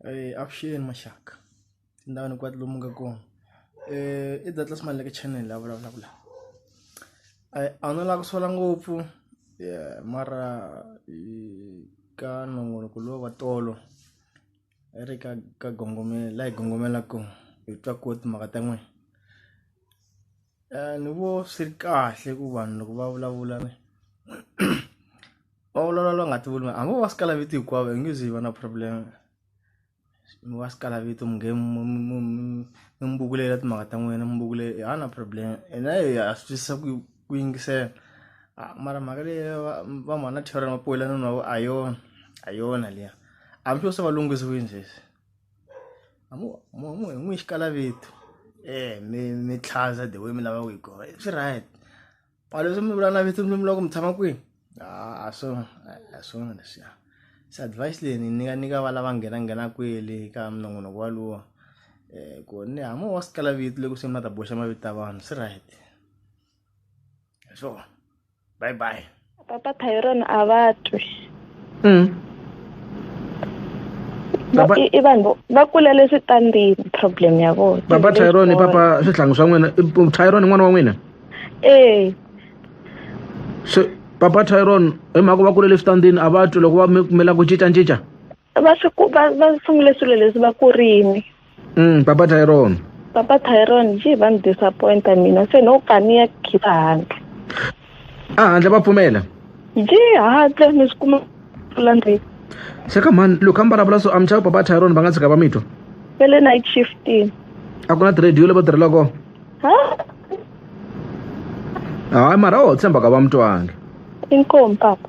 Eh, avuxeni maxaka ndhawu ni kwati lomu nga kona eh, i data smile like channel la vulavulaka la a wu no lava ku sola ngopfu mara ka nongonoko lowu wa tolo i ri ka ka gongomela la hi gongomela kona hi twa koho timhaka ta n'wina Ni vo swi ri kahle ku vanhu loko va vulavula va vulavula va nga ti vuli hambi vo va swi kala vito hinkwavo hi nge ze hi va na problem mi va swi kala vito mi nge mi mi mi mi vulavula timhaka ta n'wina mi vula i hava na problem hina hi ha swi twisisa ku ku yingisela mara mhaka leyi va va mhana Thero Mapoyila na a yona a yona liya hambi swo se va lunghisiwile sweswi. a mo mo mo hi n'wi xikala vitu eh mi mi tlhaza the way mi lava ku yi kona swi right palo swi mi vula na vitu mi vula ku mi tshama kwini a swo a swona leswiya se advice leyi ni nyika nyika va lava nghena nghena kwele ka minongonoko walowo um ku ni hamo wa sikala vitu loko se mi la ta boxa mavito ya vanhu swi right. so bye bye papa tyron a va twi mm. i vanhu va kulele switandini problem ya vona papa tyron papa swihlangu swa n'wina tyron n'wana wa n'wina ee so papa tyron hi mhaka va kulele switandini a va twi loko va kumela ku cincacinca va swi ku- va va sungule swilo leswi va ku rini mm, papa tyron papa tyron ji va ni disappointa mina se no ka ni ya khipa handle a handle va pfumela ji handle mi swi kuma pfula ndzi xeka mhani loko a mi vulavula so amchava papa tyron va nga tshika va mi twa ve le night shifting a ku na tirhediyo leyi va tirhela kona ha hayi mara a ho tshemba ka va mi twangi inkomu papa